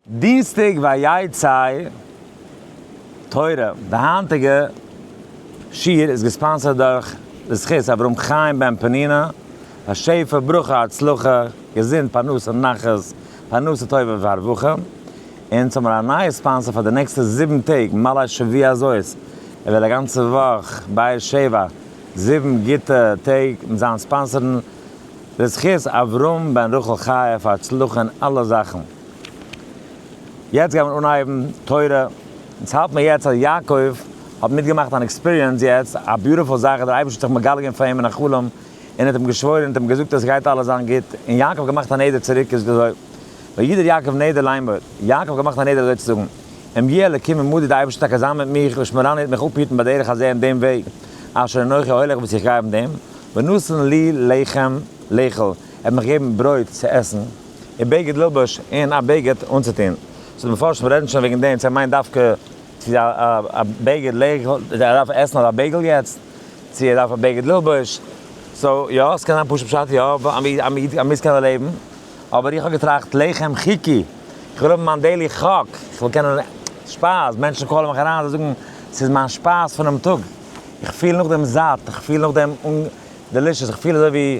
דינסטאג ויהי צי תורה, די היינטיגע שיעור איז געספאנסערד דורך די זכות אברהם חיים בן פנינה, פאר שפע, ברכה, הצלחה, געזונט, פרנסה, נחת, פרנסה טובה והרווחה, און אונז האבן מיר א נייע ספאנסער פאר די נעקסטע זיבן טעג מלא שבוע הזאת, ער וועט א גאנצע וואך באר שבע, זיבן גוטע טעג מיט זיין ספאנסערן, די זכות אברהם בן רחל חיה פאר הצלחה אין אלע זאכן. יעצט גייט מען אנהייבן תורה, אונז האלט מיר יעצט אז יעקב האט מיטגעמאכט אן עקספיריענס יעצט, א ביוטיפול זאך, דער אייבערשטער האט זיך מגלה געווען פאר אים אין א חלום, און האט אים געשוואוירן און האט אים געזאגט אז עס גייט אלעס זיין גוט, און יעקב האט געמאכט א נדר צוריק, איז אזוי, וידר יעקב נדר לאמור, יעקב האט געמאכט א נדר אזוי צו זאגן, אם יהיה אלקים עמדי די אייבערשטער טאקע זיין מיט מיך, לשמרני וועט מיך אפהיטן בדרך הזה אין דעם וועג, אשר אנכי הולך וואס איך גיי אויף דעם, ונתן לי לחם לאכול, ער וועט מיך געבן ברויט צו עסן. און בגד ללבוש און א בגד אנצוטון. סאו די מפרשים רעדן שוין וועגן דעם צו ער מיינט דווקא צו א בגד לאכול, צו ער דארף עסן אדער א בעיגל יעצט, צו ער דארף א בגד ללבוש. סאו יא, ס'קען זיין פשוט פשט יא, א מוז קענען לעבן. אבער איך האב געטראכט לחם חוקי, איך וויל האבן מיין דעילי חק, איך וויל קענען שפייז, מענטשן קאלן מיך אריין זיי זאגן ס'איז מיין שפייז פונעם טאג, איך פיל נאכדעם זאט, איך פיל נאכדעם דעלישעס, איך פיל אזוי ווי.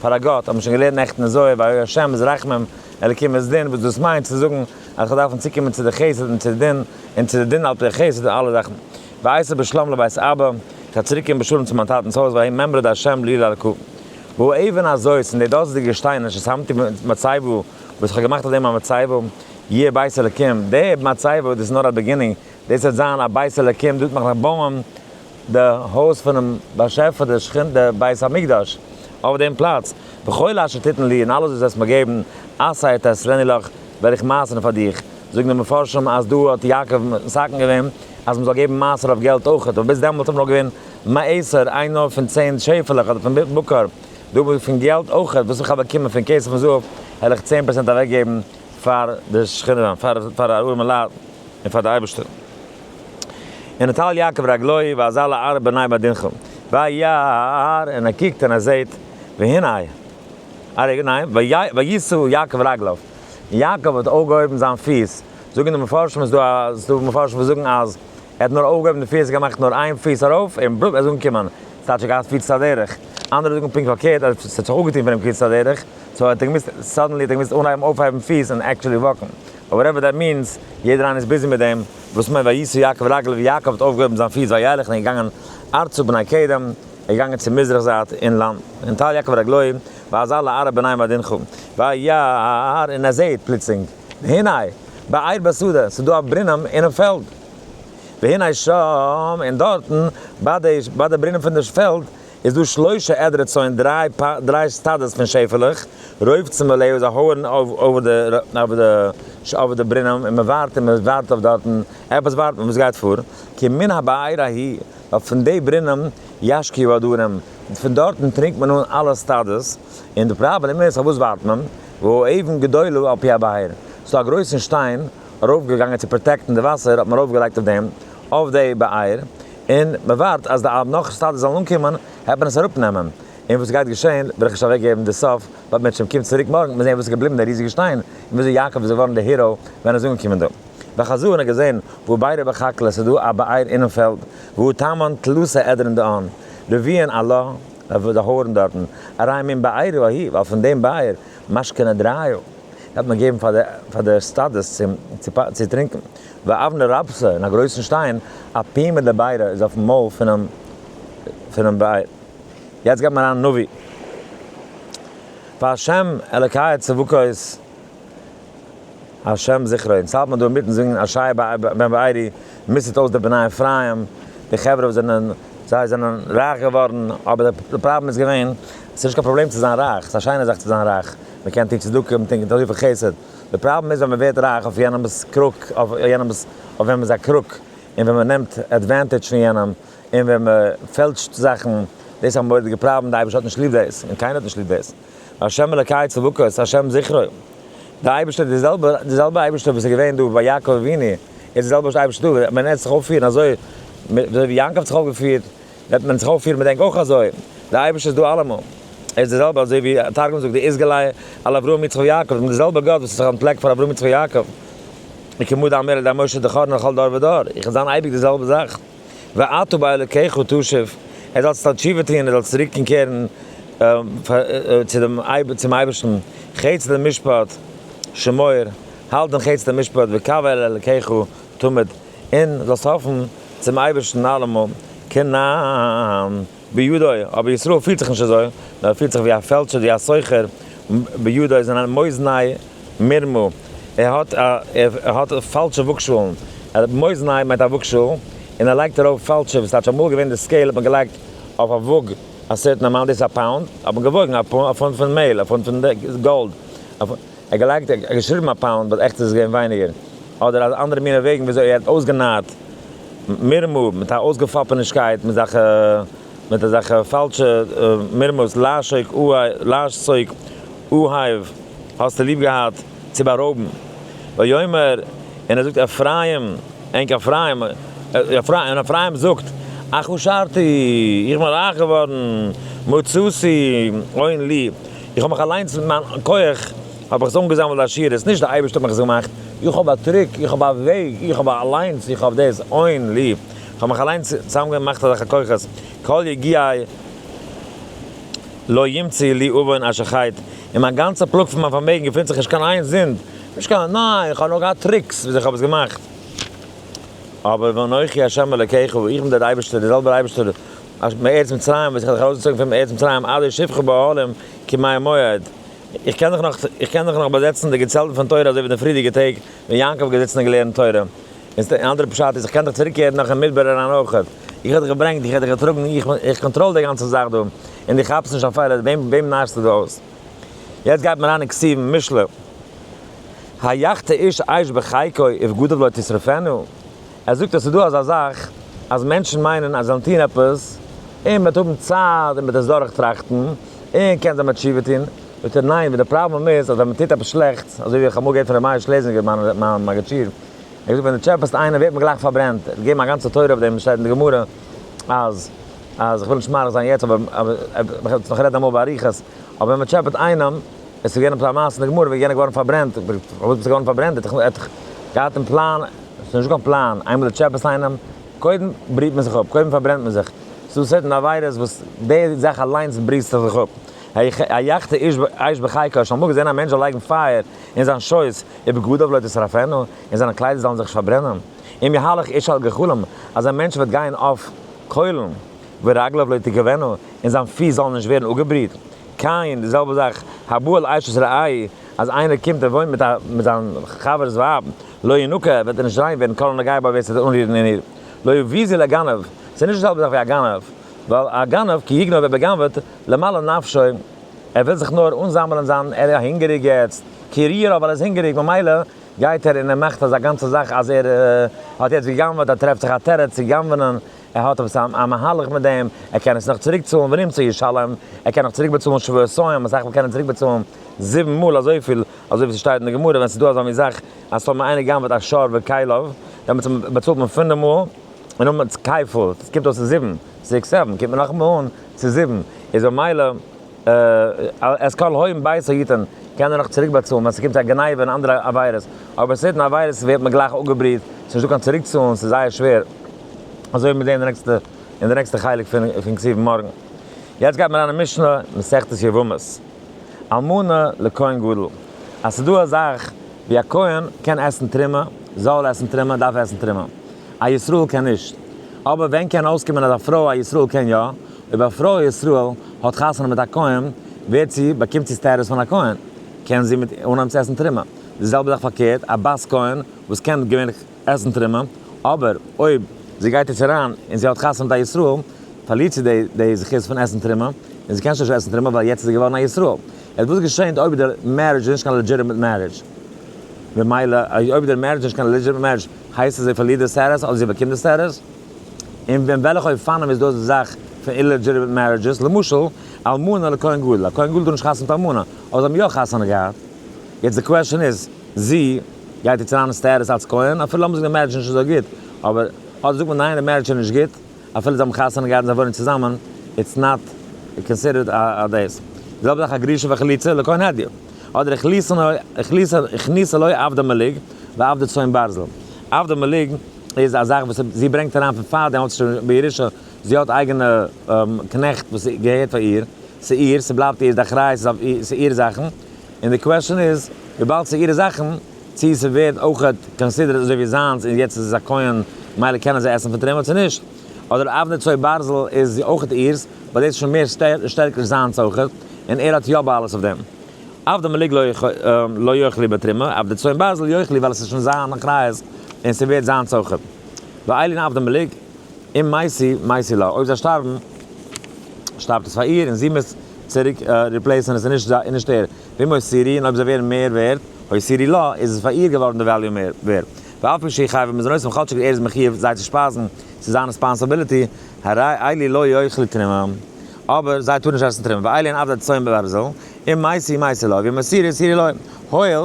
פאר א גאט, האט מען שוין געלערנט נעכטן אין זוהר, וה' השם איז רחמים, אלקים איז דין, וואס דאס מיינט צו זאגן אז איך דארף צוקומען צו די חסד און צו די דין, און צו די דין על פי החסד און אלע זאכן. ואשוב בשלום לבית אבא, איך וועל צוריקקומען בשלום צו מיין טאטנ'ס הויז, וה' ממרא דהשם לי לאלקו. והוא אבן הזאת, און די דאזיגע שטיינער אשר שמתי במצבה, וואס איך האב געמאכט אויף דעם א מצבה, יהיה בית אלקים, די מצבה דאס איז נאר א בעגינינג, דאס וועט זיין א בית אלקים, דאס וועט מען נאך בויען, די הויז פונעם באשעפער, די שכינ ת, די בית המקדש אויף דעם פלאץ, וכל אשר תתן לי, און אלעס וואס דו וועסט מיר געבן, עשה את עשרני לך, וועל איך מייסערן פאר דיך, זאגן די מפרשים אז דא האט יעקב מסכם געווען אז מען זאל געבן מעשר אויף געלט אויך, אבער ביז דעמאלט האט מען נאר געווען מעשר, איין נאר פון צען שעפעלעך אדער פון בקר, דא האב איך פון געלט אויך, וואס איך האב באקומען פון כסף און זהב, העל איך צען פראצענט אוועק געבן פאר די שכינה, פאר ארעמע לייט און פאר די אייבערשטער. און נטל יעקב רגליו ואזל לארץ בני בדנחום וירא און ער קוקט און ער זעהט והנה אריה ניין וישא יעקב רגליו יעקב האט אויפגעהויבן זיין פיס, זאגן די מפרשים איז דא איז דא מפרשים וואס זאגן אז ער האט נאר אויפגעהויבן די פיס געמאכט נאר איין פיס ארויף און בלופ ער איז אנגעקומען, ס'טייטש ער האט געהאט קיצור הדרך, אנדערע זאגן פונקט פארקערט אז ס'האט זיך אפגעטון פון אים קיצור הדרך, סאו ער האט געמוזט סאדענלי האט ער געמוזט אנהייבן אויפהייבן פיס און עקטשעלי וואקן, וואטעווער דעט מינס, יעדער איינער איז ביזי מיט דעם, וואס מיינט וישא יעקב רגליו ווי יעקב האט אויפגעהויבן זיין פיס וילך און געגאנגען ארצה בני קדם, ער איז געגאנגען צו מזרח זייט אין לאנד, ונטל יעקב רגליו ואזל לערב בני מדינך וירא און ער זעהט פלוצלינג והנה בעיר בשדה ס'איז דא א ברינעם אינעם פעלד והנה שם און דארטן ביי די ביי די ברינעם פון די פעלד איז דא שלשה עדרי צאן, דריי סטאדעס פון שעפעלעך, רויב צאן מלא וואס זיי הויערן אויף די ברינעם און מען ווארט און מען ווארט אויף דארטן, עפעס ווארט מען, וואס גייט פאר? כי מן הבאר ההיא, ווייל פון די ברינעם ישקיעו הדרים, פון דארטן טרינקט מען אן אלע סטאדעס, און די פראבלעם איז פארוואס ווארט מען? והאבן גדול על פי הבאר, ס'איז דא א גרויסן שטיין, ארויף געגאנגען צו פראטעקטן די וואסער האט מען ארויף געלייגט אויף דעם אויף די באייר און מען ווארט אז די נאך סטאדעס זאלן אנקומען העט מען עס אראפ נעמען און וואס גייט געשען וועל איך נישט אוועק געבן די סוף בד מ צום קומט צוריק מארגן מוז זען וואס איז געבליבן די ריזיגע שטיין און וויאזוי יעקב איז געווארן די היראו ווען ער איז אנגעקומען דא וחזון האט געזען וואו ביירא בחקלא ס'איז דא א באייר אינעם פעלד והוא טמן תלוסא עדרין דאן רביעין עלה די הארן דארטן אריין מן באירא ההיא ווייל פון דעם באייר משכנא דרעיא דארף מען געבן פאר די סטאדעס צו טרינקען, ואבנר רבסה און א גרויסן שטיין אפי' מיט די ביירא איז אויפן מויל פונעם בער. יעצט גייט מען אריין נביא פאר השם אלקי צבקות השם זכרו, אונז האלט מען דא אינמיטן זינגען אשרי בן בערי, מיסד אויס די בני אפרים, די חברה וואס זענען, זיי זענען רייך געווארן, אבער די פראבלעם איז געווען, עס איז נישט קיין פראבלעם צו זיין רייך, עס איז א שיינע זאך צו זיין רייך, מען קען טון צדקה, מען קען טון אזויפיל חסד, די פראבלעם איז ווען מען ווערט רייך אויף יענעמ'ס קרוק, אויף יענעמ'ס, אויף וועמענס א קרוק, און ווען מען נעמט עדווענטעדזש פון יענעם, און ווען מען פעלטשט זאכן, דאס איז א מורא'דיגע פראבלעם, די אייבערשטער האט נישט ליב דאס, און קיינער האט נישט ליב דאס. השם אלקי צבקות השם זכרו, די אייבערשטער איז די זעלבע, די זעלבע אייבערשטער וואס איז געווען דא ביי יעקב אבינו, איז די זעלבע אייבערשטער דא, וועט מען ענק זיך אויפפירן אזוי, אזוי ווי יעקב האט זיך אויפגעפירט, וועט מען זיך אויפפירן מיט ענק אויך אזוי, די אייבערשטער איז דא אלעמאל, ער איז די זעלבע אזוי ווי תרגום זאגט די איזגעליי על אברהם יצחק ויעקב, מיט די זעלבע גאט וואס האט זיך אנטפלעקט פאר אברהם יצחק ויעקב, וכמודאמר על ידי משה דכרנו לכל דור ודור, איך וועל זיין אייביג די זעלבע זאך. ואתה באלוקיך תשב, ער זאל זיך תשובה טוען, ער זאל צוריקן קערן צו דעם אייבער צום אייבערשטן, חץ למשפט שמור, האלט דעם חץ דעם משפט, וקוה אל אלוקיך תמיד, און זאלסט האפן צום אייבערשטן אלעמאל, כנ ע. ביודעי, אבער ישראל פירט זיך נישט אזוי, נאר ער פירט זיך ווי א פעלשער ווי א סוחר, ביודעי איז אין מאוזניי מרמה, ער האט ער האט פאלשע וואגשאלן, מאוזניי מיינט א וואגשאל, און ער לייגט ארויף פאלשע, וואס טייטש אמאל איז געווען די סקעיל האט מען געלייגט אויף א וואג א סערטען אמאונט, דאס איז א פאונד, האט מען געוואגן א פונט פון מעהל, א פונט פון גאלד. ער האט געלייגט ער האט געשריבן א פאונד באט עכט איז עס געווען ווייניגער אדער אזא אנדערע מינע וועגן וויאזוי ער האט אויסגענייט מרמור מיט א אויסגעפאפענישקייט מיט אזאלכע מיט אזאלכע פאלשע מרמור'ס לעשוק אוהב לעשסוק אוהב האסטו ליב געהאט צו בארויבן ויאמר און ער זאגט אפרים ענק אפרים און אפרים זאגט אחושרתי איך בין רייך געווארן מצאתי אוין לי איך האב מיך אליינס מיט מיין כח האב איך עס אנגעזאמעלט די עשירות, נישט די אייבערשטער האט מיך עס געמאכט, איך האב א טריק, איך האב א וועג, איך האב א אליינס, איך האב דאס אוין לי, איך האב מיך אליינס צוזאמגעמאכט אזעלכע כוחות, כל יגיעי לא ימציא לי אבון אשר חייט, אין מיין גאנצע פלאג פון מיין פארמעגן געפינט זיך נישט קיין איין זינד, נישט קיין, ניין, איך האב נאר געהאט טריקס וויאזוי איך האב עס געמאכט, אבער ואנכי השם אלקיך, איך בין דער אייבערשטער, דער זעלבער אייבערשטער אַז מארץ מצרים וועט זיך אַלץ אַרויסגעצויגן פון ארץ מצרים עד אשר שפכו בה העלים כמים המועד. איך קען זיך נאָך, איך קען זיך נאָך באַזעצן די געצעלטן פון תורה אַזוי ווי אין די פריערדיגע טעג ווען יעקב האָט געזיצן און געלערנט תורה. און אַן אַנדערער פשט איז איך קען דאָך צוריקקערן נאָך אין מדבר אַריין אויך. איך האָב דיך געברענגט, איך האָב דיך געטראָגן, איך, איך קאָנטראָל די גאַנצע זאַך דאָ, און דו כאַפּסט נישט אַ פעלער. וועם, וועם נאַרסטו דאָ אויס? יעצט גייט מען אַריין אין כתיבים, משלי, היחתה איש אש בחייקו ובגדיו לא תשרפנה. ער זאגט אז ס'איז דא אזא זאך אז מענטשן מיינען אז זיי זאלן טון עפעס, און מ'וועט האבן צייט און מ'וועט עס דורכטראכטן, און קען זיי מען תשובה טון. זאגט ער ניין, ווי די פראבלעם איז אז ווען מ'טוט עפעס שלעכטס, אזוי ווי איך האב אמאל געהערט פון ר' מאיר שלעזינגער מיין מגיד שיעור, ער האט געזאגט ווען דו טשעפעסט איינעם ווערט מען גלייך פארברענט, ער האט געגעבן א גאנצע תורה אויף דעם, שטייט אין די גמרא אז אז כ'וויל נישט מאריך זיין יעצט אבער מ'וועט עס נאך רעדן אמאל באריכות, אבער ווען מ'טשעפעט איינעם, עס איז געווען א מעשה אין די גמרא ווי יענער איז געווארן פארברענט, פארוואס ביסטו געווארן פארברענט, ער האט דאך געהאט אין פלאן. ס'איז נישטא קיין פלאן, איינמאל די טשעפעס ליינען אים, קודם בריהט מען זיך אפ, קודם פארברענט מען זיך, ס'איז דא סערטען עבירות וואס די זאך אליינס בריהסטו זיך אפ, היחת אש בחייקה, האסט אמאל געזעהן א מענטש זאל לייגן פייער אין זיין שויס, ובגדיו לא תשרפנה, און זיינע קליידער זאלן זיך נישט פארברענען? אם יהלך איש על גחלים, אזא מענטש וועט גיין אויף קוילן, ורגליו לא תכוונה, און זיין פיס זאלן נישט ווערן אפגעבריהט, כעין די זעלבע זאך הבא על אשת רעיו, אז איינער קומט און וואוינט מיט זיין חבר'ס ווייב, לא ינוקה, וועט ער נישט ריין ווערן, כל הנוגע בה ווער ס'וועט זיך אנרירן אין איר, לא יביא זי לגנב, ס'איז נישט די זעלבע זאך ווי א גנב, ווייל א גנב כי יגנוב ער באגנב'עט, למלא נפשו, ער וויל זיך נאר אנזאמלען זיין, ער איז הונגעריג יעצט, כי רעב ווייל ער איז הונגעריג, ממילא גייט ער און ער מאכט אזא גאנצע זאך אז ער האט יעצט געגנב'עט, ער טרעפט זיך א תירוץ צו גנב'ענען, ער האט עפעס א מהלך מיט דעם, ער קען עס נאך צוריק צאלן ונמצא ישלם, ער קען נאך צוריק באצאלן שבועות סוים, בסך הכל קען ער צוריק באצאלן זיבן מאל אזויפיל אזוי ווי ס'שטייט אין די גמרא ווען ס'איז דא אזא מין זאך אז טאמער איינער גנב'ט א שור וכליו דעמאלטס איז מען באצאלט מען פונעם מאל און נאכדעמאלטס כפול עס קומט אויס צו זיבן זעקס זעוון קומט מען נאך אמאל אן צו זיבן איז במילא את כל הוים ביתו יתן קען ער נאך צוריק באצאלן ווען ס'קומט צו א גניבה און אנדערע עבירות אבער סערטען עבירות ווערט מען גלייך אפגעבריעט ס'איז נישט דא קיין צוריק צאלן ס'איז זייער שווער אזוי וועט מען זעהן אין די נעקסטע חלק פון כספים מארגן יעצט גייט מען אריין אין משנה מסכת יבמות. אלמנה לכהן גדול, אז ס'דא א זאך ווי א כהן קען עסן תרומה, זאלל עסן תרומה, דארף עסן תרומה. א ישראל קען נישט. אבער ווען קען אויסקומען אז א פרוי א ישראל קען יא? אויב א פרוי א ישראל האט חתונה מיט א כהן, ווערט זי, באקומט זי סטעטוס פון א כהן, קען זי מיט אנהייבן צו עסן תרומה. די זעלבע זאך פארקערט, א בת כהן וואס קען געווענליך. עסן טרומא, אבער אויב זי גייט יעצט אריין און זי האט חתונה מיט א ישראל, פארלירט זי די די זכות פון עסן טרומא, און זי קען שוין נישט עסן טרומא ווייל יעצט איז זי געווארן א ישראל. עס וואס געשענט אויב די מערידזש איז נישט קיין לעדזשיטעמיט מערידזש? ממילא אויב די מערידזש איז נישט קיין לעדזשיטעמיט מערידזש, הייסט עס זי פארלירט די סטעטוס אדער זי באקומט די סטעטוס? און ווען וועלכע אופנים איז דאס די זאך פון אירלעדזשיטעמיט מערידזשעס, למשל, אלמנה לכהן גדול, א כהן גדול טאר נישט חתונה מיט אלמנה, אבער זיי האבן יא חתונה געהאט. יעצט די קוועשען איז, זי גייט יעצט אריין אין סטעטוס אלץ כהן, אפילו האבן זיך די מערידזש נישט אזוי גוט, אבער אדער זאגט מען ניין די מערידזש איז נישט גוט, אפילו זיי האבן חתונה געהאט און זיי וואוינען צוזאמען, איטס נאט קאנסידערט א דאס. די זעלבע זאך א גרושה וחליצה לא כהן הדיוט. אדער הכניסה לא עבדא מליג ועבדא צאן ברזל. עבדא מליג איז א זאך וואס זי ברענגט אריין פון פאר דעם אלץ שוין בירושה, זי האט אייגענע קנעכט וואס געהערט פאר איר, ס'איהר, ס'בלייבט איר די אחריות, ס'איהר זאכן, און די קוועשאן איז וויבאלד ס'איז אירע זאכן, צי ס'ווערט אויך קאנסידערט אזוי ווי זיינס און יעצט איז עס א כהן מילא קען ער זיי עסן פון תרומה צו נישט, אדער אבני צור ברזל איז אויך אירס באט דאס איז שוין מער שטערקער זיינס אויך און ער האט יא בעלות אויף דעם. אבדא מליג לא יאכלי בתרומה, אבני צור ברזל יאכלי ווייל עס איז שוין זיין אחריות און ס'ווערט זיינס אויך. ואיילין אבדא מליג. און מעשי מעשי לה, אויב זיי שטארבן שטארבט עס פאר איר און זי מוז צוריק ריפלעיסען עס און נישט זיי און נישט ער, ווי מוסרי און אויב זיי ווערן מער ווערד הוסרי לה איז עס פאר איר געווארן די וועליו מער ווערד ואף פי שהיא חייבת מזונות און כאטשיג ער איז מחיוב זיי צו שפייזן ס'איז זיין רעספאנסאביליטי הרי אלי לא יאכלו תרומה אבער זיי טארן נישט עסן תרומה ואלי אין עבדה צאן וברזל און מעשי מעשי לה ווי מוסרי הוסרי לה הואיל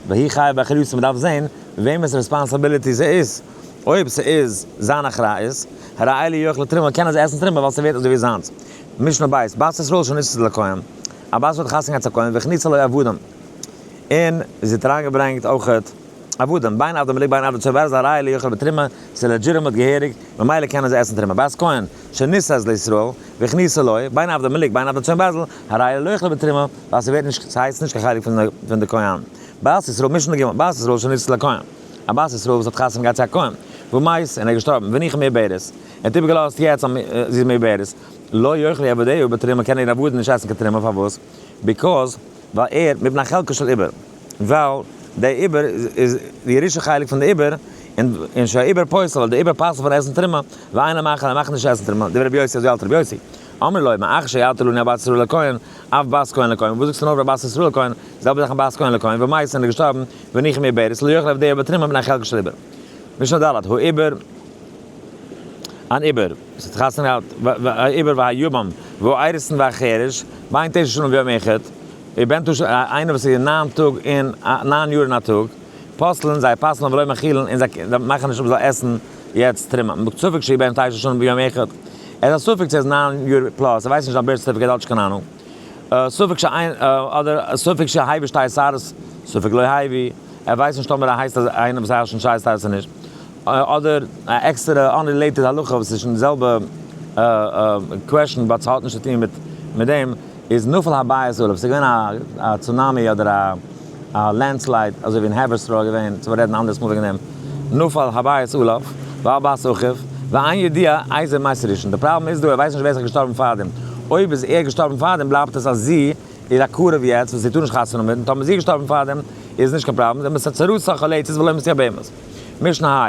והיא חיה באחריותו מ'דארף זען וועמענס רעספאנסאביליטי ס'איז. אויב ס'איז זיין אחריות, ה' לא יאכל את תרומה, קען ער זיי עסן תרומה ווייל ס'ווערט אזויווי זיינס. משנה ב', בת ישראל שניצת לכהן, א בת וואס האט חתונה געהאט צו א כהן, והכניסה לו עבדים, און זי האט אריינגעברענגט אויכעט עבדים, בין עבדים אלי' בין עבדי צאן, ווער עס איז א ראיה ליאכל בתרומה, ס'איז לעדזשיטימעט געהעריג, ממילא קען ער זיי עסן תרומה. בת כהן שנישאת לישראל, והכניסה לו, בין עבדים אלי' בין עבדי צאן בעזל, ה' לא יאכל בתרומה, ווייל ס'ווערט נישט, ס'הייסט נישט קיין חלק פון די כהן. בת ישראל, משנה ג', בת ישראל שניצת לכהן. א בת ישראל וואס האט חתונה געהאט צו א כהן והוא מת און ער איז געשטארבן והנה איך מעוברת, ער האט איבערגעלאזט יעצט אז זי איז מעוברת, לא יאכל היא עבדיהו בתרומה קען איר עבדן נישט עסן קיין תרומה פארוואס? ביקאז ווייל ער מפני חלקו של עובר ווייל די עובר איז די ירושה חלק פון די עובר און שהעובר פוסל ווייל די עובר פסל פון עסן תרומה ואין לה מאכל ער מאכט נישט עסן תרומה דברי רבי יוסי אזוי האלט רבי יוסי אמר ליה מאחר שיעלתה לנו הבת ישראל לכהן אב בית כהן לכהן, וואס זאגסטו נאך ביי בת ישראל כהן, די זעלבע זאך אין בית כהן לכהן, ווען מייסען איז געשטארבן, וניחם איר בערס, לא יאכל עבדיו בתרימא מן החלקה של עיבור. משנה ד', האו עיבור, אן עיבור, וואס האט חתונה געהאט, האו עיבור והאו יבם, והאו איירסן והאו חירש, בין תשע שנים ויום אחד, איז בן תשע, איינער וואס איז ניין טאג און, ניין יאר און א טאג. פסל'ן זיי פסל'ן ולא מאכילן און זיי מאכן נישט אפ זיי עסן יעצט תרומה מ'פרעגט ספק שיהיה בהם תשע שנים ביום אחד ער איז א ספק צו ער איז ניין יאר פלאס ער ווייסט נישט זיין בירט סערטיפיקעט האט נישט קיין אהנונג ספק ש אדער ספק ש הייבי שטייער סארס ספק לא הייבי ער ווייסט נישט טאמער ער הייסט אז איינער וואס הייסט שטייער סארס איז נישט אדער א עקסטערע אנרילעיטעד הלכה וואס איז נישט די זעלבע קוועשן באט ס'האט נישט צו טון מיט דעם. איז נפל הבית עליו, ס'איז געווען א צונאמי אדער א לענדסלייד אזוי ווי אין העווערסטראו איז געווען, צו רעדן אנדערס מאל וועגן דעם, נפל הבית עליו, והבית אחריו, ואין ידיע איזה מות ראשון, די פראבלעם איז דא ער ווייסט נישט ווער ס'איז געשטארבן פארדעם, אויב איז ער געשטארבן פארדעם בלייבט עס אז זי איז א קרוב יעצט וואס זי טאר נישט חתונה מיט, און טאמער זי איז געשטארבן פארדעם איז נישט קיין פראבלעם, זעמער ס'צרות החולצת ולא מסיח בהמות, משנה ה.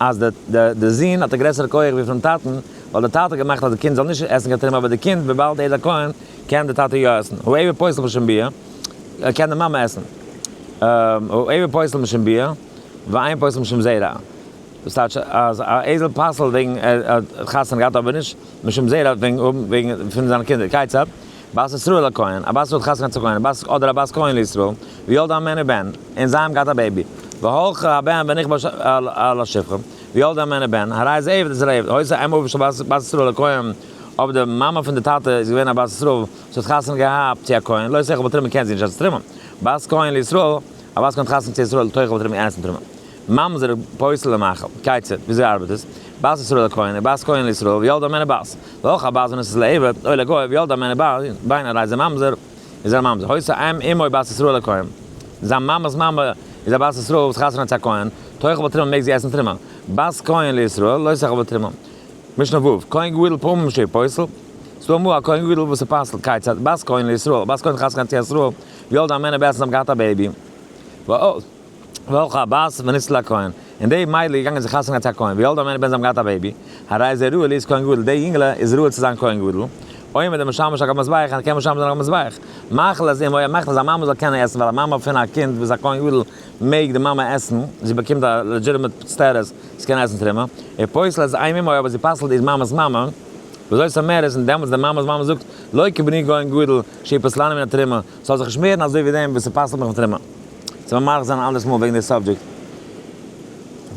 אז די זון האט א גרעסערע כח ווי פון טאטן, ווייל די טאטע האט געמאכט אז די קינד זאל נישט עסן קיין תרומה אבער די קינד וויבאלד ער איז א כהן קען די טאטע יא עסן, הוא עבר פסל משום ביה, קען די מאמע עסן, הוא עבר פסל משום ביה ואין פסל משום זרע, דאס טייטש אז א אייזל פסל'ט וועגן ער האט חתונה געהאט אבער נישט משום זרע וועגן פון זיינע קינדער, כיצד? בת ישראל א כהן, א בת ישראל האט חתונה געהאט צו כהן, א בת, אדער א בת כהן לישראל, וילדה ממנו בן, און זיי האבן געהאט א בעיבי, והלכה הבן ונכבה על השפחה, וילדה ממנו בן, הרי איז עבד אצל עבד, הוצא אם אביו של בת בת ישראל א כהן, אויב די מאמע פון די טאטע איז געווען א בת ישראל וואס האט חתונה געהאט צו א כהן, לא שכל בתרומה קען זי נישט אלץ תרומה, בת כהן לישראל, א בת כהן האט חתונה געהאט צו ישראל, תוכל בתרומה אין ערנסטן תרומה. ממזר פוסל למאכל, כיצד, וויאזוי ארבעט עס? בת ישראל לכהן איז בת כהן לישראל וילד א מענה בת, והא כ בת בנות איז לעבד, אוי לגוי, וילד א מענה בת, בין ארעי זיין ממזר, איז ער א ממזר, הוי סא אם אמו בת ישראל לכהן, זיין מאמע'ס מאמע איז א בת ישראל וואס חתונה צו א כהן, תאכל תרומה מעג זי עסן תרומה, בת כהן לישראל לא תאכל בתרומה. משנה ו', כהן גדול פעמים שהוא פוסל, סדא אמרו א כהן גדול וואס איז פסל, כיצד, בת כהן לישראל, א בת כהן חתונה צו א ישראל, וילד א מענה בת און האבן געהאט א בעיבי, והא. וועלכע הבת וניצל הכהן? און די מיידל איז געגאנגען זיך חתונה געהאט צו א כהן ווי אלט די מנין בן זיי האבן געהאט א בעיבי, הרי איז ער ראוי להיות כהן גדול, די יונגעלע איז ראוי צו זיין כהן גדול, עומד המשמש הקב מזבח און ער קען משמש זיין הקב מזבח, מאכל אז אימו, ער מאכט אז א מאמע זאל קענען עסן ווייל א מאמע פון א קינד וואס איז א כהן גדול מעג די מאמע עסן, זי באקומט א לעדזשיטעמעט סטעטוס זי קען עסן תרומה, ער פוסל אז אימי אימו אבער זי פסל'ט איז מאמע'ס מאמע, וויאזוי ס'מער איז און דעמאלטס די מאמע'ס מאמע זאגט לא כי בני כהן גדול שהיא פסלני מן התרומה, ס'זאל זיך נישט מערן אזוי ווי דעם וואס ס'פסל'ט מיך מיט טומאה. ס'וועלן מאריך זיין א אנדערעס מאל וועגן די סאבדזשעקט.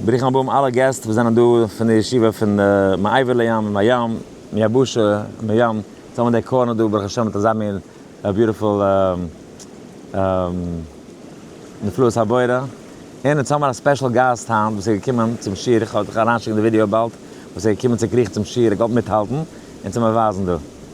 ברוכים הבאים אלע געסט וואס זענען דא פון די ישיבה פון מעבר לים ומהים מיבשה ומים. יעצט האבן מיר די קארנער דא ברוך השם מיט אזא מין ביוטיפול נפלאות הבורא. און יעצט האבן מיר א ספעשל גאסט היינט וואס איז געקומען צום שיעור, איך וועל אריינשיקן די ווידיאו באלד, וואס איז געקומען צוקריכט צום שיעור, ער גייט מיטהאלטן און צו מיר ווייזן דא.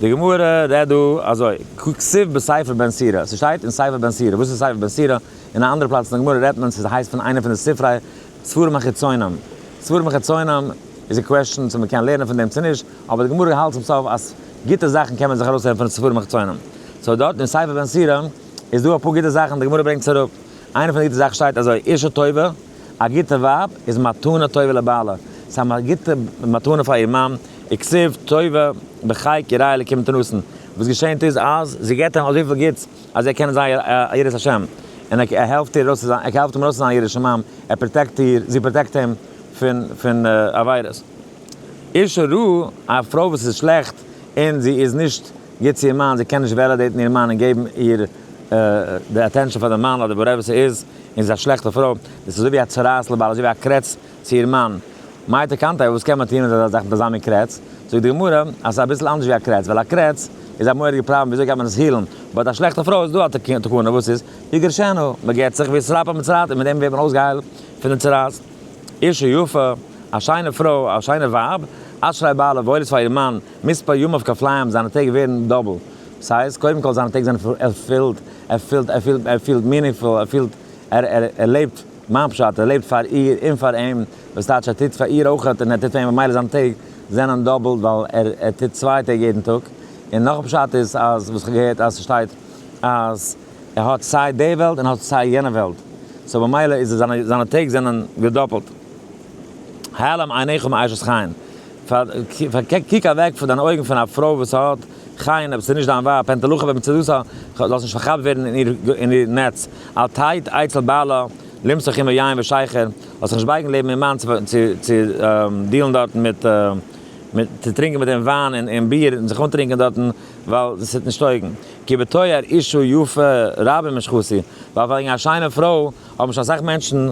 די גמרא רעדט דא אזוי, ככתוב בספר בן סירא, ס'שטייט אין ספר בן סירא, וואס איז ספר בן סירא? אין א אנדערע פלאץ אין די גמרא רעדט מען, ס'הייסט פון איינע פון די ספרי ספרים החיצונים, ספרים חיצונים איז א קוועשאן צו מ'קען לערנען פון דעם צו נישט, אבער די גמרא האלט צום סוף אז גוטע זאכן קען מען זיך ארויסהערן פון די ספרים החיצונים, סאו דארט אין ספר בן סירא איז דא אפאר גוטע זאכן, די גמרא ברענגט עס אראפ, איינע פון די גוטע זאכן שטייט אזוי, אישה טובה, א גוטע ווייב, איז מתנה טובה לבעלה, ס'איז א גוטע מתנה פאר איר מאן. וכסיף טובה בחיי כי ראה אלקים תנוסן, וואס געשענט איז אז זי געבט אים אזויפיל גוטס אז ער קען זיין א יראת השם, און ער העלפט איר ארויס ער העלפט אים ארויס צו זיין א ירא שמים, ער פראטעקט איר, זי פראטעקט אים פון פון עבירות. אישה רעה, א פרוי וואס איז שלעכט און זי איז נישט גוט צו איר מאן, זי קען נישט וועלעדעיטן איר מאן און געבן איר די אטענשאן פאר די מאן אדער וואטעווער ס'איז, און זי איז א שלעכטע פרוי, דאס איז אזוי ווי א צרעת לבעלה, אזוי ווי א קרעץ. צו איר מאן, מה התקנתיה, וואס קען מען טון מיט אזא זאך ביז אזא מין קרעץ? זאגט די גמרא אז עס איז אביסל אנדערש ווי א קרעץ, ווייל א קרעץ איז א מורא'דיגע פראבלעם וויאזוי גייט מען עס הילן, באט א שלעכטע פרוי איז דא א תקנה וואס איז, יגרשנו, מען גט זיך, ויסלפ המצרעת, און מיט דעם ווערט מען אויסגעהיילט פון די צרעת. אישה יפה, א שיינע פרוי, א שיינע ווייב, אשרי בעלה, וואויל איז פאר איר מאן, מספר ימיו כפליים, זיינע טעג ווערן דאבל, ס'הייסט, קודם כל זיינע טעג זענען ערפילט, ער פילט, ער פילט, ער פילט מינינגפול, ער פילט, ער, ער, ער לעבט. מיין פשט, ער לעבט פאר איר און פאר אים, וואס טייטש ער טוט פאר איר אויך און ער טוט פאר אים, ממילא זיינע טעג זענען דאבעלט ווייל ער טוט צוויי טעג יעדן טאג, און נאך א פשט איז אז וואס איך האב געהערט אז ס'שטייט אז ער האט סיי די וועלט און האט סיי יענע וועלט, סאו ממילא איז ער זיינע טעג זענען געדאפעלט. העלם עיניך מאשת חיל, קוק אוועק פון דיינע אויגן פון א פרוי וואס האט חיל, אויב ס'איז נישט דיין ווייב, פענטעלאכע וועמען ס'איז דאס, לאז נישט פארכאפט ווערן אין איר נעץ, אל תיד אצל בעלה למשוך עמו יין ושיכר, זאלסט זיך נישט בייגן לעבן איר מאן צו דיעלן דארטן מיט, צו טרינקען מיט אים וויין און ביר און זיך אנטרינקען דארטן, ווייל דאס טוט נישט טויגן, כי בתואר אישה יפה רבים משכותי, ווייל וועגן א שיינע פרוי האבן שוין אסאך מענטשן.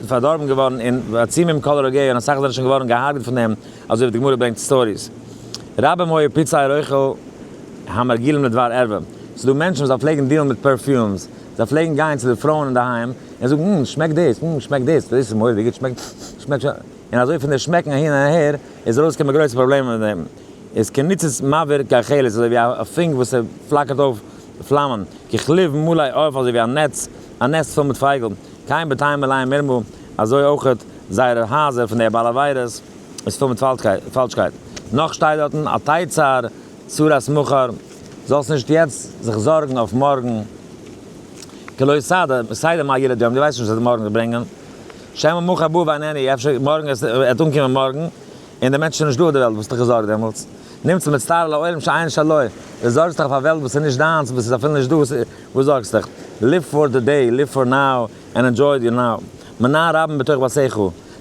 פארדארבן געווארן אין עצומים כל רוגע און אסאך זענען שוין געווארן געהארגעט פון דעם, אזוי ווי די גמרא ברענגט סטאריס רבים היו פוצעי ריחו המרגילים לדבר ערווה, ס'איז דא מענטשן וואס זיי פלעגן דיעלן מיט פערפיומס, זיי פלעגן גיין צו די פרויען אינדערהיים און זאגן אםם שמעקט דאס, אםם שמעקט דאס, דאס איז מורא'דיג גוט, שמעקט שמעקט שוין, און אזוי פון די שמעקן אהין און אהער איז ארויסגעקומען גרויסע פראבלעמען מיט דעם, איז כניצוץ מעביר כחלית אזוי ווי א פונק וואס פלאקערט אויף פלאמען, ככלוב מלא עוף אזוי ווי א נעץ, א נעסט פול מיט פייגל, קיים בתיים מלאים מרמה, אזוי אויכעט זייערע הייזער פון די בעל עבירות איז פול מיט פאלשקייט. נאך שטייט דארטן אל תיצר צרת מחר, זאלסט נישט יעצט זיך זארגן אויף מארגן, כי לא יסדה, סיידע מה ילד יום, דו ווייסט נישט וואס וועט מארגן זיך ברענגען, שמא מחר בא ואינני, אפשר מארגן וועט אנקומען מארגן און דער מענטש איז נישטא אויף די וועלט, וואס האסט דיך געזארגט דעמאלטס? נמצא מצטער על העולם שאין שלו, דו זארגסט דיך אויף א וועלט וואס איז נישט דיינס, וואס איז אפילו נישטא. וואס זארגסט דיך? ליוו פאר די דעי, ליוו פאר נאו, ענד ענדזשוי די נאו. מנא רבן בתוך בתיך.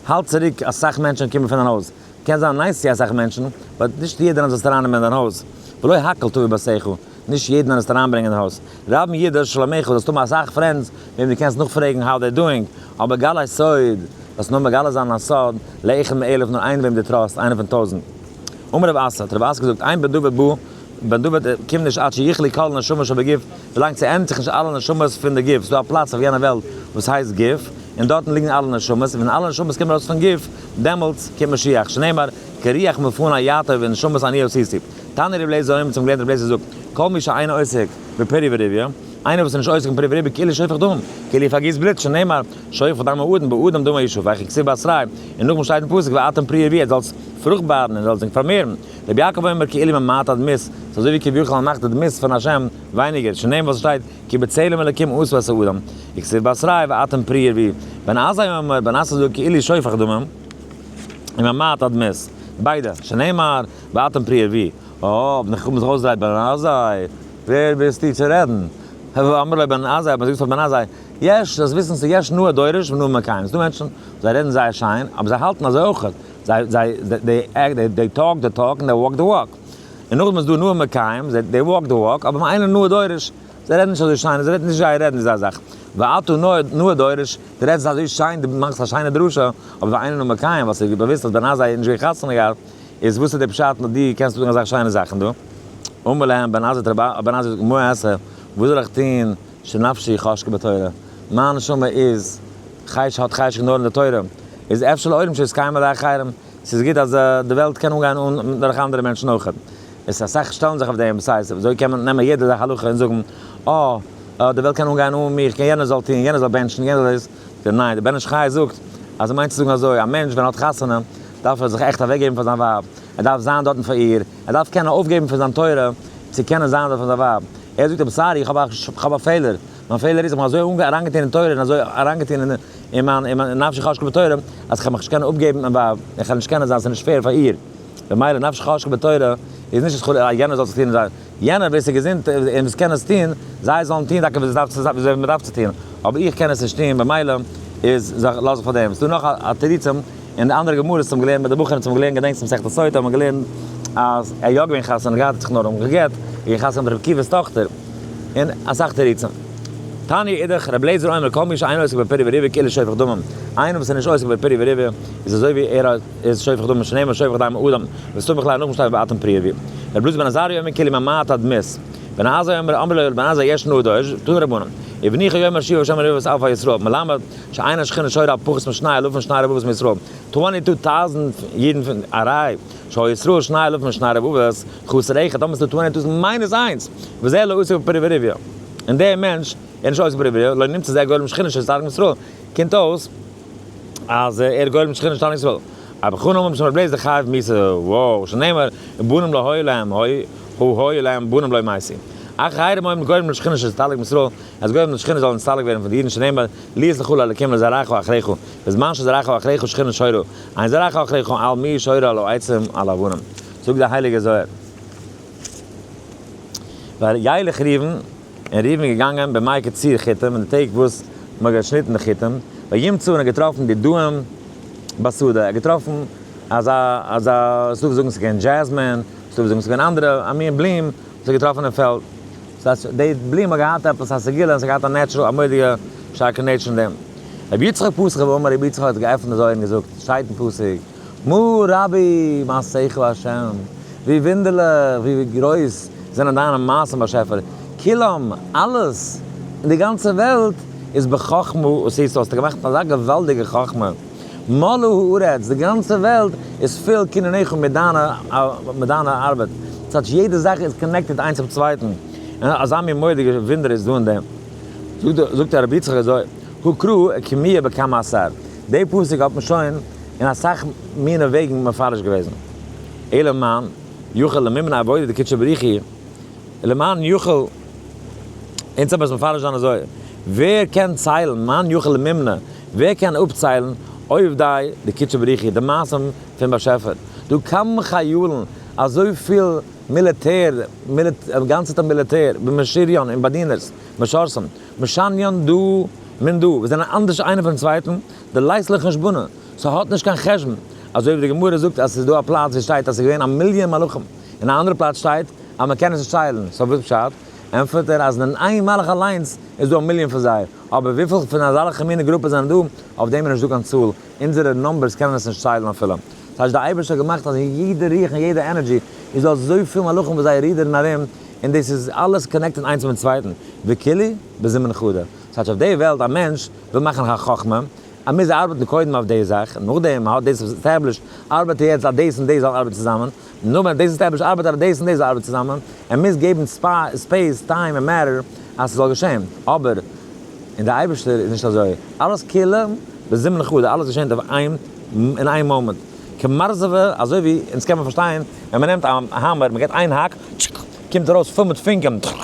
האלט צוריק אסאך מענטשן קומען פון דיין הויז. קען זיין נייס צו אסאך מענטשן, באט נישט יעדערן זאלסטו ארייננעמען אין דיין הויז. ולא הכל טוב בבתיך. נישט יעדערן זאלסטו אריינברענגען אין הויז. רבן ידע את שלומיך, זאלסט האבן אסאך פרענדס וועם דו קענסט נאכפרעגן האו דעי דואינג, אבער גלה סוד, זאלסט נאר מגלה זיין א סוד לאחד מאלף, נאר איינער וועם דו טראסט, איינער פון טויזנט. אמר רב אסא, האט רב אסא געזאגט, עיין בדבר בא, בן דוד קומט נישט עד שיכלי כל הנשמות שבגוף, ווילאנג ס'ענדיגט זיך נישט אלע נשמות פון די גוף, ס'איז דא א פלאץ אויף יענע וועלט וואס הייסט גוף, און דארטן ליגן אלע נשמות, און ווען אלע נשמות קומען ארויס פון גוף, דעמאלטס קומט משיח, שנאמר, כריח מפנה יעטה ונשמות עניות היסיב. תני רב אליעזר האומר צום געלערנטן רב אליעזר זאגט, כל מי שאינו עוסק בפרי וריבי, איינער וואס איז נישט עוסק אין פרי וריבי כאילו שופך דם, כאילו פארגיסט בלוט, שנאמר, שופך דם האדם באדם דמו ישפוך, ככתוב באסרי', און נאכדעם שטייט אין פסוק ואתם פרי ערבי, ער זאל פרוכט בארן און ער זאל זיך פארמערן, רבי יעקב אומר כעלים ממעט עד מיס, ס'איז אזוי ווי כביכול א מאכט עד מיס פון השם, ווייניגער, שונאים וואס ס'שטייט כי בצלם אלקים עשו את האדם, וכסיל באסריי ואתם פרי ערבי, בן עזאי אומר בן עשא זאג כאילי שופך דמם, און ממעט עד מיס, ביידע, שנאמר ואתם פרי ערבי, אויב נאך האבן זיך אויסגעדרייט בן עזאי, ווער ביסטו צו רעדן, הוה אמר ליה בן עזאי, האט מען זיך געזאגט פאר בן עזאי, יש, זאלסט וויסן ס'איז יש נאה דורש ונאה מקיים, ס'איז דא מענטשן, זיי רעדן זייער שיין, אבער זיי האלטן אזוי אויך. זיי זיי דעי עקט דעי דעי טאלק די טאלק און דעי וואלק די וואלק. און נאכדעם איז דא נועם מקיים, זיי דעי וואלק די וואלק, אבער מיין איינער נאה דורש, זיי רעדן נישט אזוי שיין, זיי וועטן נישט זיי רעדן איז א זאך. ואתו נאה דורש, די רעדסט אזוי שיין, די מאכסט א שיינע דרשה, אבער ווען איינער נועם מקיים, ווייל ס'איז ווי באוויסט אז ביינאזע איז נישט געווען חתונה געהאט, איז וואס איז די פשט מיט דיר קענסטו זאגן אזאך שיינע זאכן דא? אמר להם בן עזות תרבה, בן עזות תרבה, מה אעשה, וואס זאל איך טוהן? שנפשי חשקה בתורה, מיין נשמה איז חש האט חשק נאר אין די תורה, איז אפשר לעולם שיתקיימו די אחרים, ס'איז גוט אז די וועלט קען אנגיין אן דורך אנדערע מענטשן אויך, עס איז אסאך שטעלן זיך אויף דעם, סא איז אזוי קען מען נעמען יעדע זאך הלכה און זאגן אה די וועלט קען אנגיין אן מיר, כ'קען יענער זאל טון, יענער זאל בענטשן, יענער זאל דאס, די ניין, די בן איש חי זאגט אז ער מיינט צו זאגן אזוי, א מענטש ווען ער האט חתונה דארף ער זיך עכט אוועק געבן פאר זיין ווייב, ער דארף זיין דארטן פאר איר, ער דארף קענען אויפגעבן פון זיין תורה צו קענען זיין דארט פאר זיין ווייב, ער זאגט אים סארי איך האב א פעלער, מיין פעלער איז איך בין אזוי אריינגעטון אין תורה און אזוי אריינגעטון אין מיין נפשי חשקה בתורה אז כ'האב מיך נישט קענען אפגעבן מיין ווייב און כ'העל נישט קענען זיין ס'איז נישט פעיר פאר איר במילא נפשי חשקה בתורה איז נישט אז חלילה אז יענער זאל זיך טון זיי יענער ווער ס'איז געזונט און וואס קען עס טון זיי זאלן טון טאקע ווי אזוי מ'דארף צו טון אבער איך קען עס נישט טון במילא איז לאז איך פאר דעם ס'דא נאך א תירוצים. אין די אנדערע גמרות האבן געלערנט מיט די בחורים האבן געלערנט געדענקסט מסכת סוטה האבן געלערנט אז ער יא געווען חתונה געהאט האט זיך נאר אומגעגעט און געווען חתונה מיט ר' עקיבא'ס טאכטער און אסאך תירוצים תניא אידך ר' לעזער אומר כל מי שאינו עוסק בפירי וריבי כאילו שופך דמים איינער וואס איז נישט עוסק בפירי וריבי איז אזוי ווי ער איז שופך דמים שנאמר שופך דם אדם מסתמך ל ע נאכן שטיין באתון פריערבי ר' לוזי בן עזריה אומר כאילו ממעט אדמת בן עזאי אומר אמר לו ר' בן עזאי יש נדוד תנו רבנן אבן איכא אומר שיבו שם רבבות אלפי ישראל מלמד. שאין השכינה שורה א פחות משני אלפים שני רבבות מישראל, טווענטי טו טאוזענד אידן פון א ריי שעה ישראל שני אלפים משני רבבות, חסר אחד, טאמער ס'איז דא טווענטי טאוזענד מיינוס איינס, וזה לא עוסק בפריווריה, און דער מענטש איז נישט עוסק בפריווריה, לא נמצא זה גולם שכינה של שטארקן ישראל, קומט אויס אז ער איז גולם שכינה של שטארקן ישראל, אבער חו נאמר משמר בלעז די חייב מיתה, וואו שנאמר בנים להוי להם הוי הוי להם בנים להוי מייסי, אחר חיירים הוי מגולם לשכינה של שטארקן ישראל, אז גוים און שכינה זאלן נסתלק ווערן פון די אידן שנאמר לי יסלחו לאלקים לזרעך ואחריך בזמן שזרעך ואחריך שכינה שורה אין זרעך ואחריך על מי היא שורה על העצים על האבנים זאגט דער הייליגער זוהר וילך ראובן און ראובן איז געגאנגען בימי קציר חיטים אין די טעג וואס מען האט געשניטן די חיטים וימצא און ער האט געטראפן די דוהם בשדה ער האט געטראפן אזא אזא ס'דא וואס זאגן ס'געווען דזשעזמין ס'דא וואס זאגן ס'געווען אנדערע א מין בלום וואס ער האט געטראפן אין פעלד ס'האט זיך די בלום האט געהאט עפעס א סגולה און ס'האט געהאט א נעטשרעל א מודיע שטארקע נעטש אין דעם רבי יצחק פסח רבי אמר רבי יצחק האט געעפנט די זויל און געזאגט שטייט אין פסוק מו ר רבי מה שכל השם ווי וואונדערליך ווי גרויס זענען דיינע מעשים באשעפער כולם אלעס אין די גאנצע וועלט איז בחכמה עשית האסטו געמאכט אזא געוואלדיגע חכמה. מלא הארץ, די גאנצע וועלט איז פיל קניניך מיט דיינע ארבעט, כאטש יעדע זאך איז קאנעקטעד איינס צום צווייטן, און אזא מין מורא'דיגע וואונדער איז דא אין דעם. זאגט דער רבי יצחק אזוי, הוקרא קמיה בכמה עשר, די פסוק האט מען שוין אין אסאך מינע וועגן מפרש געוועזן, אלא מאן יוכל למימנה עבודה דקודשא בריך היא, למען יוכל, אונז האב עס מפרש זיין אזוי, ווער קען ציילן, מאן יוכל לממנה, ווער קען אפציילן, עובדיי דקדשא בריחי, די מעשים פון באשעפער, דא קאמען חיילן, אזויפיל מיליטער, גאנצעטע מיליטער, ומשריון און באדינערס, משרתים, משנין דא מן דא, וואס זענען אנדערש איינער פונעם צווייטן, די לייסט לא חשבונא, ס'האט נישט קיין חשבון, אזוי ווי די גמרא זאגט אז ס'איז דא א פלאץ ווי ס'שטייט אז ס'איז געווען א מיליאן מלאכים, און א אנדערע פלאץ שטייט. אז מען קען עס נישט ציילן, סאו וואס פשט? ענטפערט ער אז אין איין מלך אליינס איז דא א מיליאן פון זיי, אבער וויפיל פון אזאלכע מינע גרופעס זענען דא, אויף דעם איז נישטא קיין צאל, אונזערע נומבערס קענען עס נישט ציילן אפילו. ס'הייסט די אייבערשטער האט געמאכט אז אין יעדע רוח און יעדע ענערדזשי איז דא אזויפיל מלאכים וואס זיי רידערן ארום, און דאס איז אלעס קאנעקטעד איינס מיטן צווייטן, וכו' בזמן חדר. ס'הייסט אויף די וועלט א מענטש וויל מאכן א חכמה, ער מוז ארבעטן קודם אויף די זאך, נאכדעם ער האט דאס עסטעבלישט ארבעט ער יעצט אז דאס און דאס זאל ארבעטן צוזאמען, נו ווען דאס איז טייפיש ארבעט ארבעט דאס און דאס ארבעט צוזאמען, ער מוז געבן ספעיס, טיים און מעטער אז ס'זאל געשען, אבער אין די אייבערשטער איז נישט אזוי, אלעס כולא בזמן חדה, אלעס געשענט אויף איין אין איין מאמענט, כמרזבה, אזוי ווי, און דאס קען מען פארשטיין, ווען מען נעמט א האמער, מען געט איין האק, טשק, קומט ארויס פול מיט פונקען, טשק,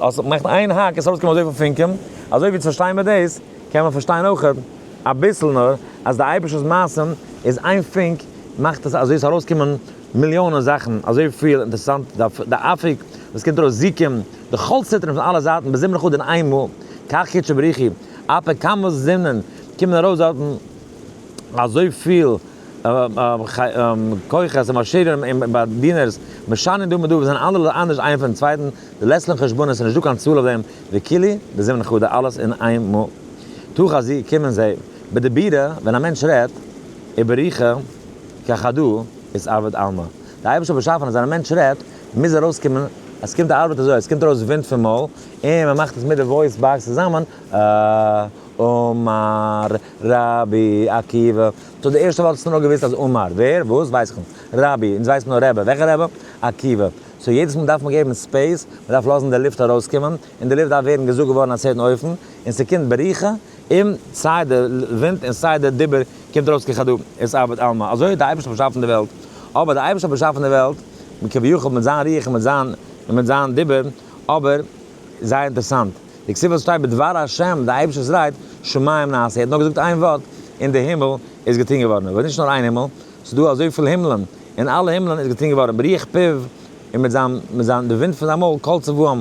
אז מען מאכט איין האק איז ס'ארויס געקומען אזויפיל פונקען, אזוי ווי צו פארשטיין מען דאס, קען מען פארשטיין אויכעט, אביסל נאר, אז די אייבערשטער'ס מעשים איז איין פונק מאכט עס אזוי עס ארויס קומען מיליאנען זאכן אזוי פיל אינטערסאנט די אפיק וואס קומט ארויס זיקים די כל סטרים פון אלע זייטן בזימון אחד אין איין מאל כך קדשו בריחי אפיק כמה זינען קומען ארויס דארטן אזוי פיל כוחות און עשירים און באדינערס משנים דא מיט דא וואס זענען אלערליי אנדערש איינער פונעם צווייטן די לעצלען חשבונות ס'איז נישט דא קיין צאל אויף דעם וכו' בזימון אחד אלעס אין איין מאל. תוך הזיע קומען זיי, ביי די בירה ווען א מענטש רעדט איבער ריחה כחדא איז אבד עלמא, די אייבערשטער האט באשאפן אז ווען א מענטש רעדט מוז ארויסקומען, עס קומט א ארבעט אזוי, עס קומט ארויס ווינט פון מויל און מען מאכט עס מיט די וואויס באקס צוזאמען, אה, אמר רבי עקיבא, טא די ערשטע ווארט האסטו נאר געוואוסט אז אמר, ווער, וואס, ווייס איך נישט, רבי, אונז ווייסן נאר רעבע, וועלכע רעבע, עקיבא, סאו יעדעס מאל דארף מען געבן ספעיס, מען דארף לאזן די לופט ארויסקומען. און די לופט דארף ווערן געזאגט געווארן א צווייטן אופן, און ס'קומט בריחה, און סיי די ווינט און סיי די דיבור קומט ארויס ככדו', איז אבד עלמא. אזוי האט די אייבערשטער באשאפן די וועלט. אבער די אייבערשטער האט באשאפן די וועלט, כביכול מיט זיין רוח און מיט זיין און מיט זיין דיבור, אבער, זייער אינטערעסאנט, די כתובה וואס שטייט בדבר ה', די אייבערשטער וואס רייט, שמים נעשה, ער האט נאר געזאגט איין ווארט, און די הימל איז געטון געווארן. אבער נישט נאר איין הימל, ס'איז דא אזויפיל הימלען, און אלע הימלען איז געטון געווארן ברוח פיו, און מיט זיין, מיט זיין, די ווינט פון זיין מויל, קול צבאם,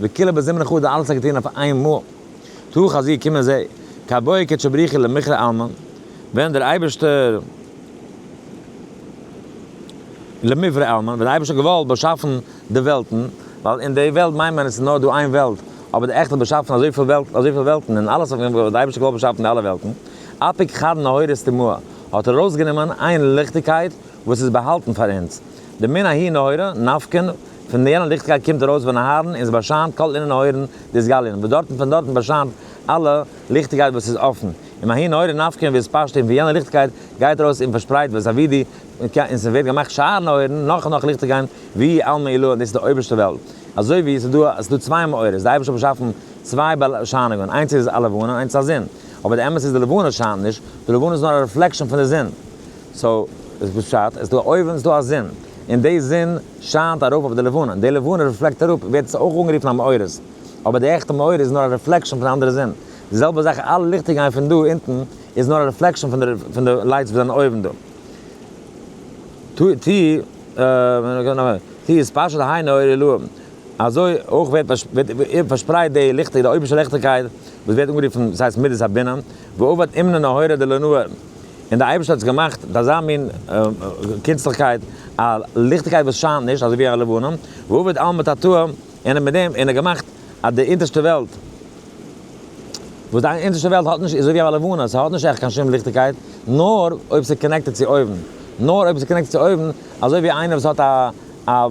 וכּלה בזמן אחד האָט אַלץ ער געטאָן אויף איין מאָל. תּוך אַז איר קומען זי, כּהבאי קדשי בריחי למכרה אלמן, ווען דער אייבערשטער, למברא אלמן, ווען דער אייבערשטער האָט געוואָלט באַשאַפֿן די וועלטן, ווייל אין די וועלט מיינט מען עס איז נאָר דאָ איין וועלט, אָבער דער עכט האָט באַשאַפֿן אַזוי פֿיל וועלט, אַזוי פֿיל וועלטן און אַלעס אויף אים האָט דער אייבערשטער געוואָלט באַשאַפֿן די אַלע וועלטן, אַפּיק חד נהורס טמאה, האָט ער אַרויסגענומען איין ליכטיקייט וואָס איז באַהאַלטן פֿאַר אונדז, די מין ההיא נהורא, נפֿקן, פון יענע ליכטקייט קומט ארויס ווען אהרן און עס באשיינט כל אינן האוירן די סגלין וואס דארטן פון דארטן באשיינט אלע ליכטיקייט וואס איז אפן און מהאי נהורא נפקא ווי עס פאשט און פון יענע ליכטיקייט גייט ארויס און פארשפרייט וואס אבי די קע און ס'ווערט געמאכט שאר נהורן נאך און נאך ליכטיגיין ווי על מי עלו און דאס איז די אויבערשטע וועלט אזוי ווי עס איז דא עס איז דא צוויי מאורות די אייבערשטער האט באשאפן צוויי באשיינונגען איינס איז א לבנה איינס א זון אבער די אמת איז די לבנה שיינט נישט די לבנה איז נאר א רעפלעקשאן פון די זון סאו וואס פשט עס איז דא א אויבן עס איז דא א זון און די זון שיינט ארויף אויף די לבנה, די לבנה רעפלעקט אראפ, ווערט עס אויך אנגערופן א מאור איז, אבער די עכטע מאור איז נאר א רעפלעקשאן פון די אנדערע זון, די זעלבע זאך אלע ליכטער גייען פון דא אונטן איז נאר א רעפלעקשאן פון די לייטס וואס זענען אויבן דא. ט איז פשוט היינו אור אלוהים, אזוי אויך ווערט פארשפרייט די ליכטיג די אויבערשטע ליכטיגקייט וואס ווערט אנגערופן ס'הייסט מידת הבינה, ועובד אמנו נהורא דלענוה, און דער אייבערשטער האט עס געמאכט די אזא מין קונצליכקייט, א ליכטיגקייט וואס שיינט נישט, אזוי ווי א לבנה, ועובד עלמא תתאה, און מיט דעם און ער געמאכט אז די אונטערשטע וועלט, וואס די אונטערשטע וועלט האט נישט, איז אזוי ווי א לבנה, ס'האט נישט עכט קיין שום ליכטיגקייט, נאר אויב ס'איז קאנעקטעד צו אויבן, נאר אויב ס'איז קאנעקטעד צו אויבן, אזוי ווי איינער וואס האט א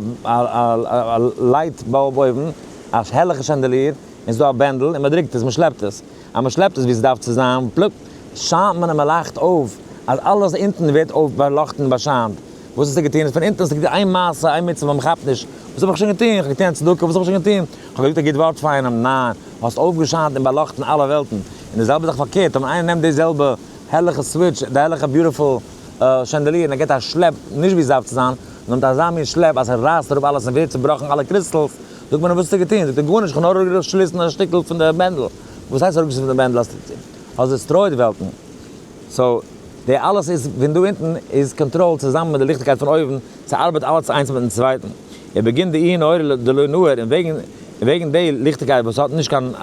לייט באלב אויבן, א העלכע שענדעליר, און ס'איז דא א בענדל און מ'דרוקט עס, מ'שלעפט עס, אז מען שלעפט עס ווי עס דארף צו זיין, פלופ, שיינט מען און מען לייכט אויף, אז אלעס אונטן ווערט אויף באלאכטן און באשיינט. וואס האסטו געטון? פון אונטן האסטו געטון איין מעשה, איין מצוה וואס מען כאפט נישט, וואס האב איך שוין געטון? איך האב געטון א צדקה, וואס האב איך שוין געטון? איך האב געזאגט א גוט ווארט פאר איינעם, ניין, האסט אויפגעשיינט און באלאכטן אלע וועלטן. און די זעלבע זאך פארקערט, אויב איינער נעמט די זעלבע הערליכע סוויטש, די הערליכע ביוטיפול שענדעליר, און ער גיבט א שלעפ נישט ווי עס דארף צו זיין, נאר מיט אזא מין שלעפ אז ער רייסט אראפ אלעס און ווערט צובראכן אלע קריסטעלס, זאגט מען אים וואס האסטו געטון? זאגט ער גארנישט איך האב נאר אראפגעלאזט שליסן א שטיקל פון די בענדל. וואס הייסט אראפגעשליסן פון די בענדל האסטו געטון? האסט דעסטרויעט וועלטן. סאו די אלעס איז פון דא אונטן איז קאנטראלד צוזאמען מיט די ליכטיגקייט פון אויבן, ס'ארבעט אלעס איינס מיטן צווייטן. ער באגינט די אי נהורא דלא נהור און וועגן און וועגן די ליכטיגקייט וואס האט נישט קיין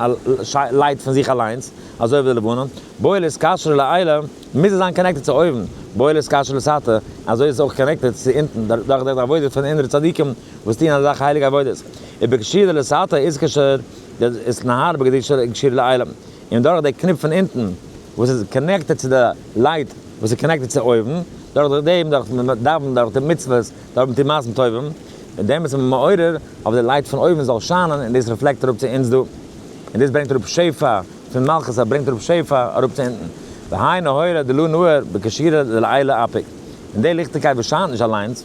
לייט פון זיך אליינס, אזוי ווי די לבנה, בועל איז קשר לעילא, מוז ער זיין קאנעקטעד צו אויבן, בועל איז קשר לסאטא, אזוי איז עס אויך קאנעקטעד צו אונטן דורך די עבודה פון אינערע צדיקים. וואס טוען אזעלכע הייליגע עבודות איבער קשיא דלסתר איז קשר דאיז נהר בקדושה קשיר לעילם און דורך די קניפ פון אונטן וואס איז קאנעקטעד צו די לייט וואס איז קאנעקטעד צו אויבן דורך דעם דורך מיט דאווענען דורך די מצוות דורך מיט טוהן מעשים טובים מיט דעם איז מען מעורר אויף די לייט פון אויבן זאל שיינען און דאס רעפלעקט אראפ צו אונז דא און דאס ברענגט אראפ שפע פון מלכות א ברענגט אראפ שפע אראפ צו אונטן והאי נהורא דלא נהור בקשירא דלעילא אפי' און די ליכטיגקייט וואס שיינט נישט אליינס.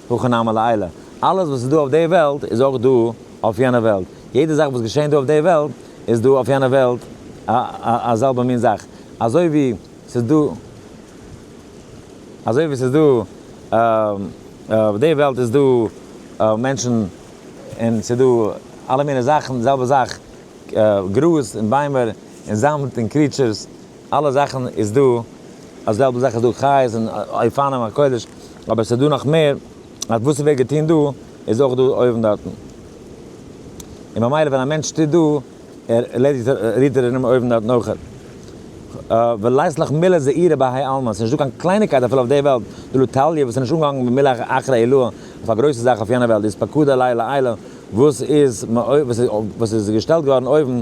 וכן המה לעילה, אלעס וואס איז דא אויף די וועלט איז אויך דא אויף יענע וועלט, יעדע זאך וואס געשעהן דא אויף די וועלט איז דא אויף יענע וועלט א זעלבע מין זאך, אזוי ווי ס'איז דא אזוי ווי ס'איז דא אויף די וועלט איז דא מענטשן און ס'איז דא אלע מיני זאכן, די זעלבע זאך גראז און ביימער און זאמד און קריעטשורס. אלע זאכן איז דא, א זעלבע זאך איז דא חיות און אופנים הקודש, אבער עס איז דא נאך מער, אז וואס ס'ווערט געטון דא, איז אויך דא אויבן דארטן. און ממילא ווען א מענטש טוט דא, ער ערלעדיגט רירט ער ארום אויבן דארטן אויך. ולית לך מילה זעירא בהאי עלמא, ס'איז נישט דא קיין קלייניגקייט אפילו אויף די וועלט, דלא טליא, וואס איז נישט אנגעהאנגן במילה אחרי עילאה, אויף א גרויסע זאך אויף יענע וועלט, דאס פקוד עלי לעילה, וואס איז געשטעלט געווארן אויבן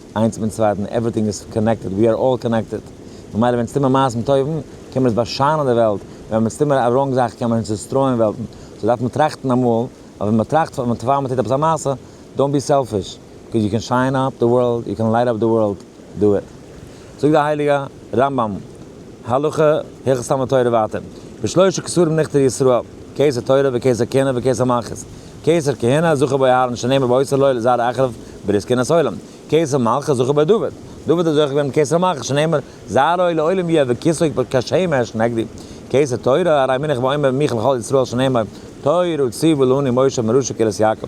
איינס מיטן צווייטן, עווריטינג איז קאנעקטעד, ווי אר אלל קאנעקטעד, ממילא ווען עס טוט מיר מעשים טובים, קען מען עס באשיינען די וועלט, און ווען עס טוט מיר א ראנג זאך, קען מען עס דיסטרויען וועלטן, סאו דארף מען טראכטן אמאל, אז ווען מען טראכט פאר מען טוט עפעס א מעשה, דאונט בי סעלפיש, ביקאוז יו קען שיין אפ די ווארלד, יו קען לייט אפ די ווארלד, דו איט. זאגט דער הייליגע רמב ם, הלכה הלכות תלמוד תורה ווייטער, בשלושה כסרים נכתר ישראל, קיסר תורה וקיסר כהונה וקיסר מלכות, קיסר כהונה זכה בו אהרן שנאמר באוסר לו לזרע אחריו ברית כהונת עולם, קיסר מלכות זכה בו דוד, דוד איז זוכה געווען מיט קיסר מלכות שנאמר זרעו לעולם יהיה וכסאו כשמש נגדי, קיסר תורה הרי מינך ואומר מיך לכל ישראל שנאמר תורה ציוו לנו משה מראשית קהלת יעקב.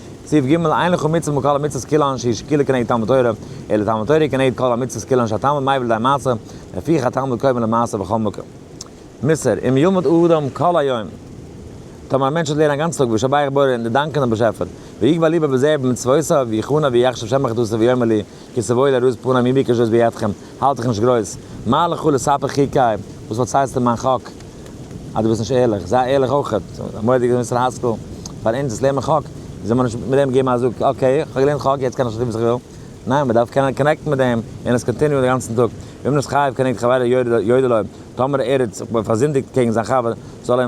סעיף ג' אין לכל מצוה מכל המצוות כאילו אנ ש איש כאילו כנגד תלמוד תורה, אלא תלמוד תורה כנגד כל המצוות כאילו אנ ש התלמוד מייווע לידי המעשה, לפיכך התלמוד קודם למעשה בכל מקום. מוסר, אם ילמוד אדם כל היום, טאמער א מענטש וועט לערנען א גאנצן טאג בשבח בורא און דערדאנקען דעם באשעפער, ויגבה ליבו בזה ובמצוותיו, ויחונא ויחשב שמך דאס איז ויאמר לי, כי סבוי לראות פנים אם ביקשות בידכם, האלט דיך נישט גרויס, מה לך ולספר חיקי, וואס פארציילסטו מיין חק, אז דו ביסט נישט ערליך, זיי ערליך אויך, א מורא דאס מוסר השכל פאר אונז וואס לערנען חק, זאל מען נישט מיט דעם געבן א זאג, אקעי, איך האב געלערנט חק, יעצט קען איך שרייבן וואס איך וויל, ניין, מען דארף קענען קאנעקטן מיט דעם, און עס קאנטיניוען די גאנצן טאג, ואם נס חייב כנגד חברו יודע לו, טאמער ער האט זיך פארזינדיגט קעגן זיין חבר, זאל ער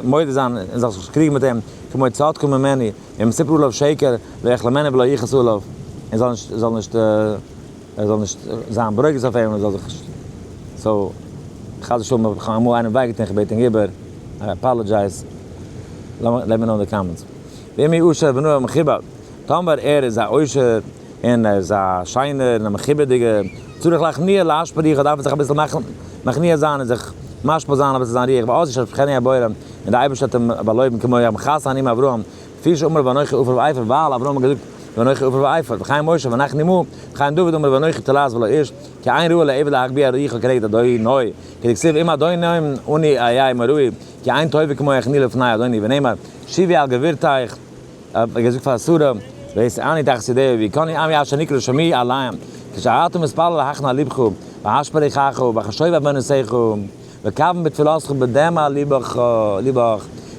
מודה זיין און זאל זיך קריגן מיט אים, כמו צעדקו ממני, און ספרו עליו שקר, ואיך למנה ולא יכעס עליו, און זאל נישט, זאל נישט, ער זאל נישט זיין ברוגז אויף אים, און זאל זיך, סאו, חס ושלום האב איך אמאל איינעם וויי געטון, כ'בעט אים איבער, איי אפאלעדזשייז, לעטמי נאו אין די קאמענטס. ואם יעושר בנו המכובד, טאמער ער איז א עושר. און ער איז א שיינער און א מכובד'יגער, צריך להכניע לאש בריחו, דארף מען זיך אביסל מכניע זיין און זיך משפיל זיין אביסל זיין ריח, ועוז יש על פחני הבורא, און דער אייבערשטער האט אים באלויבן כמו יעקב מכסה העניים אברהם, כפי שאמר ואנכי עופר ועיפר, ווייל אברהם האט געזאגט ואנכי עופר ועיפר, וחיים משה ואנכי נמהר, וחיים דוד אמר ואנכי תולעת ולא איש, כי עין רואה לעבד להגביה את ריחו כנגד אדוניו, כדכתיב אם אדוני עני אהיה עמו ראוי, כי עין טובה כמו הכניע לפני אדוני, ונאמר שיבי על גבירתיך, האט מען געזאגט פאר שרה, ואעשה אני את חסידיו ווי קני עמי אשר נקרא שמי עליהם, כשאתה מתפלל הכנה לבך, והשפע ריחך, וחשוב אבני נסיך, וכוון בתפילתך בדמע לבך,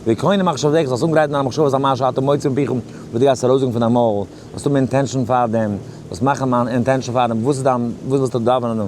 ווי קני מחשבותיך, זאלסט אנגרייטן דיינע מחשבות אז מה שאתה מוציא מפיך וואס דו גייסט ארויסזאגן פון דיין מויל, זאלסט האבן אינטענשאן פאר דעם, זאלסט מאכן אן אינטענשאן פאר דעם, וואס איז דיין, וואס ווילסטו דאווענען,